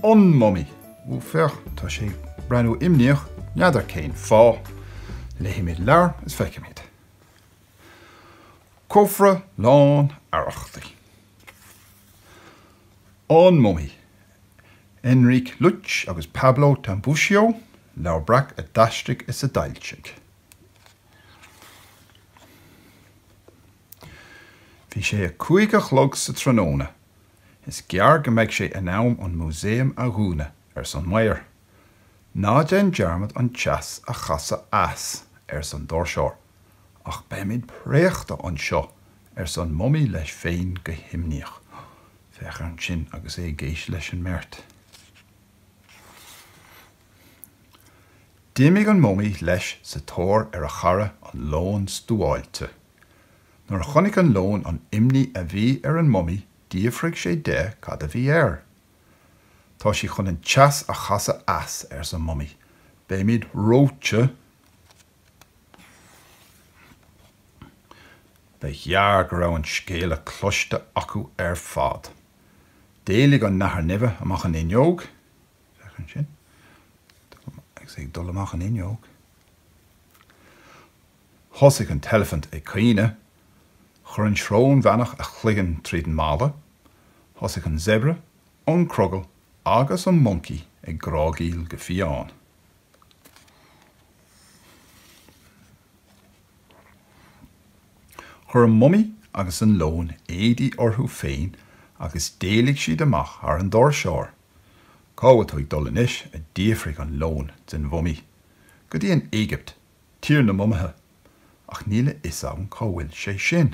An Mumaí. Ó féach, tá sé ag breathnú imníoch, n'fheadar cén fáth. Léimid an leabhar is feicimid. cófra lán arrachtaí. An Mumaí, Enrique Lluch agus Pablo Tambucio, Leabhar Breac a d'aistrigh is a d'fhoilsigh. Bhí sé a cúig a chlog sa tráthnóna. Is gearr go mbeidh sé in am an músaem a dhúnadh, arsa an maor. Ná déan dearmad an teas a chasadh as, arsa an doirseoir, ach beimid préachta anseo arsa an Mumaí leis féin go himníoch. Féach air ansin agus é ag éisteacht leis an mbeirt. D'imigh an Mumaí leis sa tóir ar a chara an Leon Stuáilte. Nuair a chonaic an Leon an imní a bhí ar an Mumaí d'fhiafraigh sé de cad a bhí air. Tá siad chun an teas a chasadh as, arsa an Mumaí. Beimid reoite! Ba ghearr go raibh an scéala cloiste acu ar fad. D'éalaigh an nathair nimhe amach an fhuinneog, féach ansin, agus é ag dul amach an fhuinneog, thosaigh an t-eilifint ag caoineadh, chuir an srónbheannach a chloigeann tríd an mballa, thosaigh an Séabra, an Crogall agus an Moncaí ag grágaíl go fiáin. Chuir an mumaí agus an leon éadaí orthu féin agus d'éalaigh siad amach thar an doirseoir. Cá bhfuil tú ag dul anois? a d'fhiafraigh an leon den mhumaí. Go dtí an Éigipt, tír na mumaithe. Ach níl a fhios agam cá bhfuil sé sin.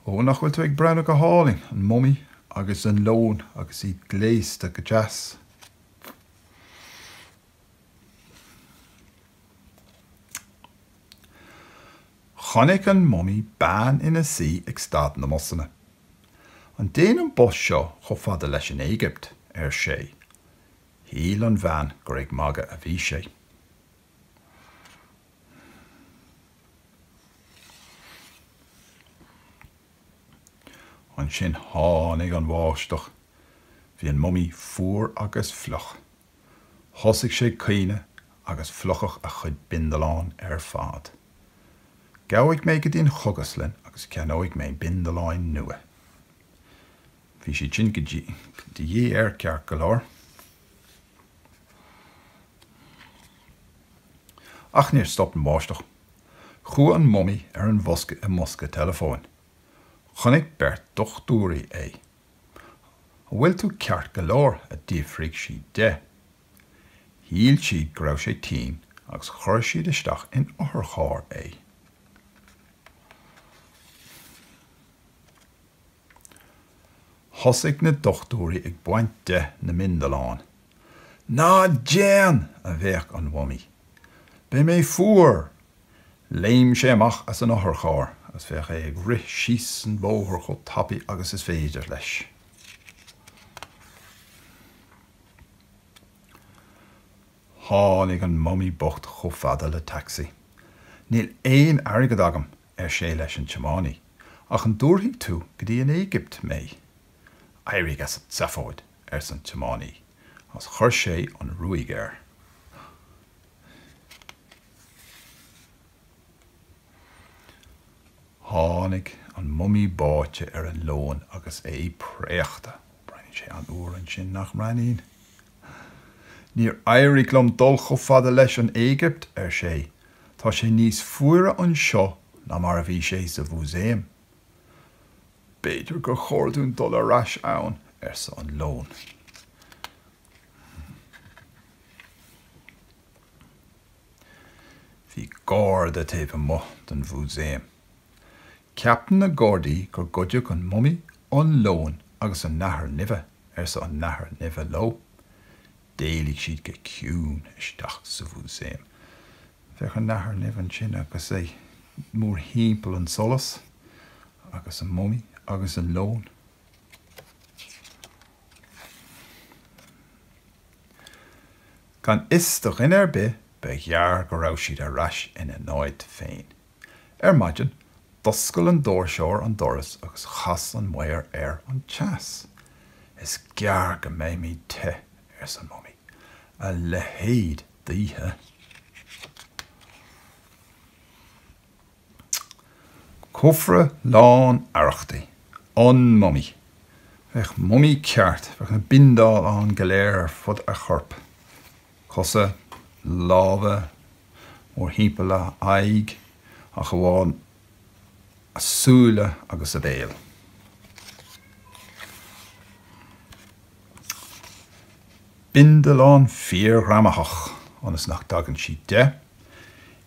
Ó, nach bhfuil siad ag breathnú go hálainn, an mumaí agus an leon agus iad gléasta go deas. Chonaic an mumaí bean ina suí ag stad na mbusanna. An dtéann an bus seo chomh fada leis an Éigipt? ar sé. Shíl an bhean gur ag magadh a bhí sé. Ansin tháinig an bháisteach. Bhí an mumaí fuar agus fliuch. Thosaigh sé ag caoineadh agus fliuchadh a chuid bindealán ar fad. Gabhfaidh mé go dtí an chógaslann agus ceannóidh mé bindealáin nua. Bhí siad sin de dhíth air ceart go leor. Ach níor stop an bháisteach. Chuaigh an mumaí ar an bhfoscadh i mbosca teileafóin. Chonaic beirt dochtúirí é. 'An bhfuil tú ceart go leor? a d'fhiafraigh siad de. Shíl siad go raibh sé tinn agus chuir siad isteach in otharcharr é. Thosaigh na dochtúirí ag baint de na mbindealán. Ná déan! a bhéic an mumaí. Beidh mé fuar! Léim sé amach as an otharcharr agus féach é ag rith síos an bóthar chomh tapaidh agus is féidir leis. Tháinig an mumaí bocht chomh fada le taxi. Níl aon airgead agam! ar sé leis an tiománaí, ach an dtabharfaidh tú go dtí an Éigipt mé? Éirigh as an tseafóid, arsa an tiománaí, agus chuir sé an ruaig air. Tháinig an mumaí báite ar an leon agus é préachta. Breathnaíonn sé an-fhuar ansin, nach mbreathnaíonn? Níor éirigh liom dul chomh fada leis an Éigipt, ar sé, Tá sé níos fuaire anseo ná mar a bhí sé sa mhúsaem. B'fhéidir gur chóir dúinn dul ar ais ann, arsa an leon. Bhí garda taobh amuigh den mhúsaem. Ceapann na gardaí gur goideadh an mumaí, an leon agus an nathair nimhe, arsa an nathair nimhe leo. D'éalaigh siad go ciúin isteach sa mhúsaem. Féach an nathair nimhe ansin agus é mórthimpeall an tsolais agus an mumaí agus an leon. Gan fhios do dhuine ar bith, ba ghearr go raibh siad ar ais ina n-áit féin. Ar maidin, d'oscail an doirseoir an doras agus chas an maor air an teas. Is gearr go mbeimid te, arsa an mumaí, a leithéid d'oíche. Cófra lán arrachtaí. An mumaí. Féach mumaí ceart, féach na bindealáin go léir ar fud a choirp. cosa, lámha, mórthimpeall a aghaidh, ach amháin a súile agus a béal. Bindealán fíorghreamaitheach, ionas nach dtagann sí de,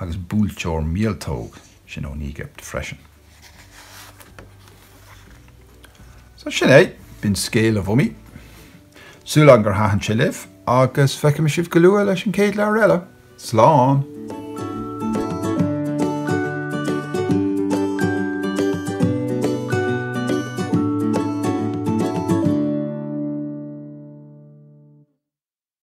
agus buailteoir míoltóg sin ón Éigipt freisin. So sin é, b'in scéal an mhummy. Súil agam gur thaitin sé libh agus feicfidh mé sibh go luath leis an chéad leabhar eile. Slán!